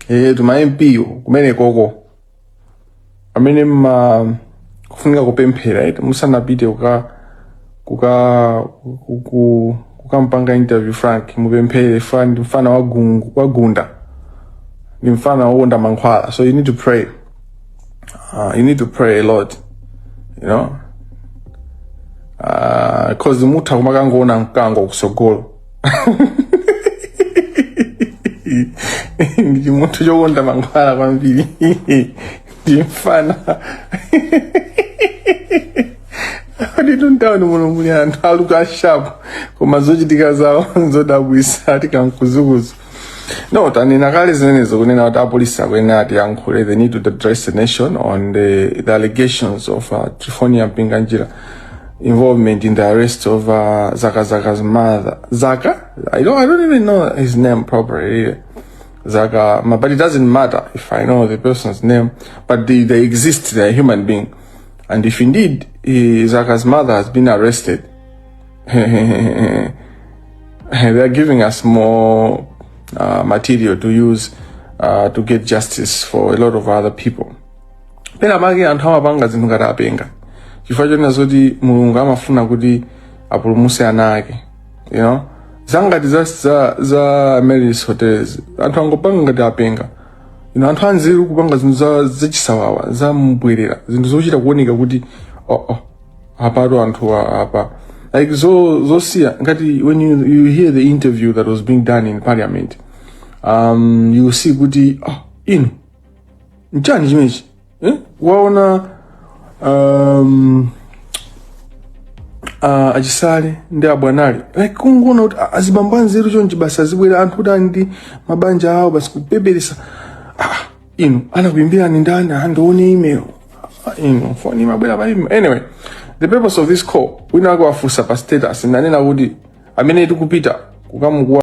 ehe tuma MP wo kumene koko amene mma kufunika kupemphera eti musanapite kuka kuka kuku kukampanga interview frank mupemphere mfa- ndi mfana wagungu- wagunda ndi mfana wokonda mankhwala so you need to pray uh, you need to pray a lot you know uh, cause mutha kumakangoona mkango kusogolo ndi chimunthu chokonda mankhwala kwambiri ndi mfana aditu m'tawuni muno muli anthu olooka shapu koma zochitika zawo nzodabwisa Ati Kamkuzukuzu No, tanena kale zimenezo kunena kuti apolisi akuyenera atiyankhule they need to address the nation on the, the allegations of uh, Trifonia Mpinganjira involvement in the arrest of uh, Zaka Zaka's mother. Zaka? I don't, I don't even know his name properly. Really. Zaka, ma- but it doesn't matter if I know the person's name, but they, they exist, they're a human being. And if indeed eh, Zaka's mother has been arrested, they are giving us more uh, material to use uh, to get justice for a lot of other people pena pake anthu amapanga zinthu ngati apenga chifukwa chonena zoti mulungu amafuna kuti apulumuse ana ake you know za ngati za, za, za Amaryllis Hotel anthu angopanga ngati apenga you know, anthu anzeru kupanga zinthu za, za chisawawa za mbwerera zinthu zochita kuoneka kuti oh, oh, apatu anthu a- apa like zo zosiya ngati when you, you hear the interview that was being done in parliament um, you see kuti ah, inu nchani chimechi eh? waona um, uh, a Chisale ndi a Bwanali like kungoona kuti ah, azibambo anzeru chonchi basi azibwera anthu oti ali ndi mabanja awo basi kupeperesa inu anakuimbirani ndani ndione email Ah, inu foni imabwera pa email anyway the purpose of this call wina wake wafunsa pa status nanena kuti amene tikupita kukamukuwa